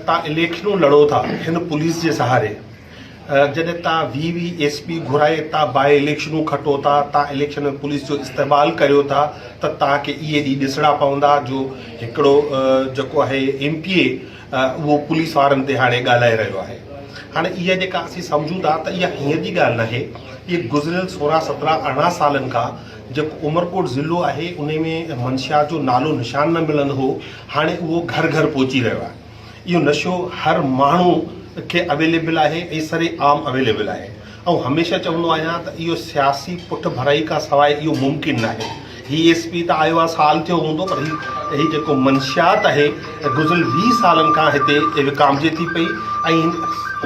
تان اليڪشنون لڙو ٿا هن پوليس جي سهاري جڏهن تان وي وي ايس پي گهرائي تان باء اليڪشنون کٽو ٿا تان اليڪشن ۾ پوليس جو استعمال ڪريو ٿا ته تان کي اهي ڏينهن ڏسڻا پوندا جو هڪڙو جيڪو آهي ايم پي اي اهو پوليس وارن تي هاڻي ڳالهائي رهيو آهي هاڻي اها جيڪا اسين سمجهون ٿا ته اها هينئر جي ڳالهه ناهي اهي گذريل سورهن سترهن ارڙهن سالن کان جيڪو عمرڪوٽ ضلعو آهي انهي ۾ منشيات جو نالو نشان نه ملندو هو هاڻي اهو گهر گهر پهچي رهيو آهي. اهو نشو هر ماڻهو کي اويليبل آهي ۽ سري عام اويليبل آهي. آئون هميشه چوندو آهيان ته اهو سياسي پٺ ڀرائي کان سواء اهو ممڪن ناهي. هي ايس پي ته آيو آهي سال ٿيو هوندو پر هي هي جيڪو منشيات آهي گذريل ويهه سالن کان هتي وڪامجي ٿي پئي ۽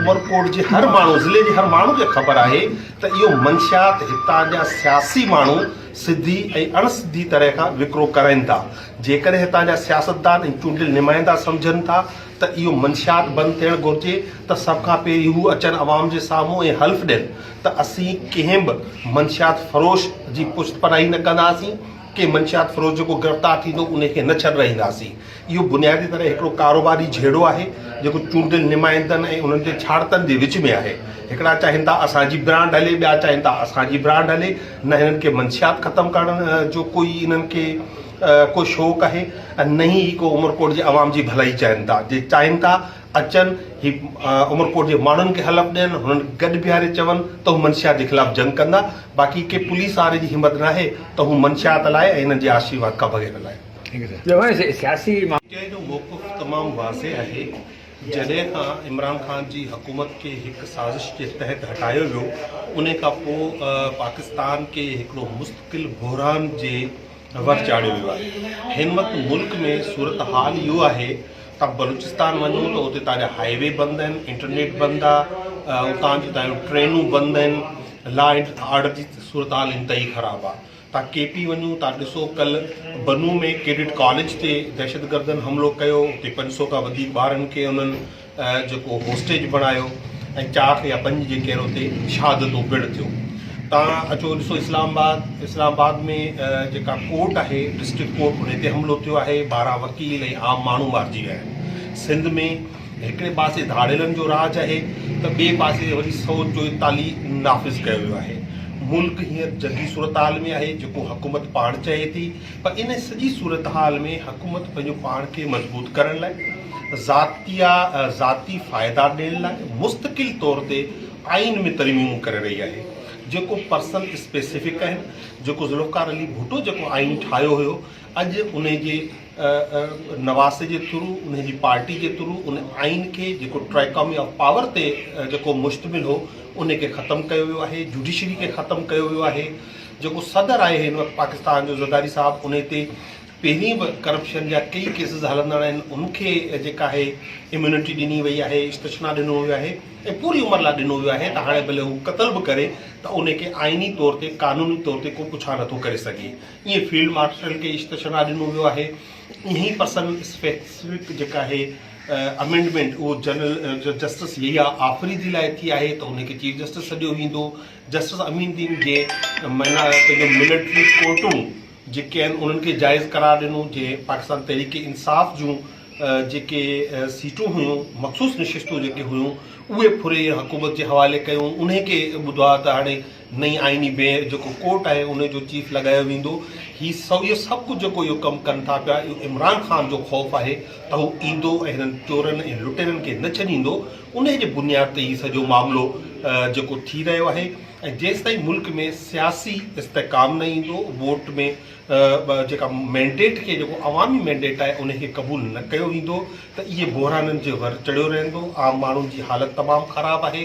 عمرڪوٽ جي هر ماڻهو ضلعي جي هر ماڻهو کي خبر آهي ته اهو منشيات هتان جا سياسي ماڻهو سڌي ۽ اڻ سڌي طرح کان وڪرو ڪرائين ٿا. جيڪڏهن هتان جا سياستدان ۽ چونڊيل نمائندا سمجهن ٿا ته اهو منشيات بند ٿيڻ گهرجي ته سڀ کان پهرين هو اچن عوام جي سامهون ۽ حلف ڏين ته اسين ڪنهن به منشيات فروش جي پشت پناهي نه ڪنداسين ڪنهن منشيات فروش جيڪو گرفتار ٿيندو ان کي نه ڇڏرائينداسين اهو بنيادي طرح هڪڙو ڪاروباري جهيڙو آهي جيڪو چونڊيل نمائندن ۽ انهن جي ڇاڙتن جي وچ ۾ آهي هڪڙا چاهين ٿا اسان جي برانڊ هلي ٻيا چاهين ٿا اسان جي برانڊ هلي نه هنن کي منشيات ختم ڪرڻ جو ڪوئي انهن کي ڪو شوق آهي ۽ نه ئي هي ڪو عمرڪوٽ جي عوام جي ڀلائي چاهين ٿا جي چاهين ٿا اچن هي عمرڪوٽ جي ماڻهن کي حلف ڏين هنن کي گڏ بيهاري چون ته هو منشيات جي خلاف جنگ ڪندا باقي ڪنهن پوليس واري جي همت ناهي ته هو منشيات لاء ۽ هنن جي آشيرواد کان بغير لاء سياسي چئي جو موقف تمام واضح آهي. جڏهن کان عمران خان جي حڪومت کي هڪ سازش جي تحت هٽايو ويو انهي کان پوء پاڪستان کي هڪڙو مستقل بحران جي ور چاڙهيو ويو آهي هن وقت ملڪ ۾ صورتحال اهو آهي تان بلوچستان وڃو ته اتي تان جا هائي وي بند آهن انٽرنيٽ بند آ اتان جون تان جون ٽرينون بند آهن لا آرڊر جي صورتحال انتهائي خراب آ تان ڪي پي وڃو تان ڏسو ڪل بنو ۾ ڪيڊٽ ڪاليج تي دهشتگردن حملو ڪيو اتي پنج سو کان وڌيڪ ٻارن کي انهن جيڪو هوسٽيج بڻايو ۽ چار يا پنج جيڪي آهن اتي شهادتون پڻ ٿيو تان اچو ڏسو اسلام آباد اسلام آباد ۾ جيڪا ڪورٽ آهي ڊسٽرڪ ڪورٽ ان تي حملو ٿيو آهي ٻارهن وڪيل ۽ عام ماڻهو مارجي ويا آهن سنڌ ۾ هڪڙي پاسي ڌاڙيلن جو راڄ آهي ته ٻئي پاسي وري سعود جو اطالي نافذ ڪيو ويو آهي. ملڪ هينئر جنگي صورتحال ۾ آهي جيڪو حڪومت پاڻ چاهي ٿي پر ان سڄي صورتحال ۾ حڪومت پنهنجو پاڻ کي مضبوط ڪرڻ لاء ذاتيا ذاتي فائدا ڏيڻ لاء مستقل طور تي آئين ۾ ترميمون ڪري رهي آهي جيڪو پرسن اسپيسفڪ آهن جيڪو ذوالفقار علي ڀٽو جيڪو آئين ٺاهيو هيو اڄ انهي جي نواز جي ٿرو انهن جي پارٽي جي ٿرو ان آئين کي جيڪو ٽرائڪامي آف پاور تي جيڪو مشتمل هو ان کي ختم ڪيو ويو آهي جوڊيشري کي ختم ڪيو ويو آهي جيڪو صدر آهي هن وقت پاڪستان جو زرداري صاحب ان تي پهرين به ڪرپشن جا ڪيئي ڪيسز هلندڙ آهن ان کي جيڪا آهي اميونٽي ڏني وئي آهي استشنا ڏنو ويو آهي ۽ پوري عمر لاء ڏنو ويو آهي ته هاڻي ڀلي هو قتل به ڪري ته ان کي آئيني طور تي قانوني طور تي ڪو پڇا نٿو ڪري سگهي ايئن فيلڊ مارشل کي استشنا ڏنو ويو آهي. ايئن ئي پرسن اسپيسفڪ جيڪا آهي امينڊمينٽ اهو جنرل جسٽس يحيٰ آفريدي لاء ٿي آهي ته ان کي چيف جسٽس سڏيو ويندو. جسٽس امين الدين جي معنيٰ پنهنجون ملٽري ڪورٽون جيڪي آهن انهن کي جائز قرار ڏنو جنهن پاڪستان تحريڪ انصاف جون جيڪي سيٽون هيون مخصوص نشستون جيڪي هيون اهي ڦري حڪومت جي حوالي ڪيون انهي کي ٻڌو آهي ته هاڻي نئين آئيني بينچ جيڪو ڪورٽ آهي ان جو چيف لڳايو ويندو هي سويو سڀ ڪجهه جيڪو اهو ڪم ڪن ٿا پيا اهو عمران خان جو خوف آهي ته هو ايندو ۽ هنن چورن ۽ لٽيرن کي نه ڇڏيندو انهي جي بنياد تي هي سڄو معاملو جيڪو ٿي رهيو آهي ۽ جيستائين ملڪ ۾ سياسي استحڪام نه ايندو ووٽ ۾ جيڪا مينڊيٽ کي جيڪو عوامي مينڊيٽ آهي انهي کي قبول نه ڪيو ويندو ته اهي بحرانن جي ور چڙهيو رهندو عام ماڻهن جي حالت تمام خراب آهي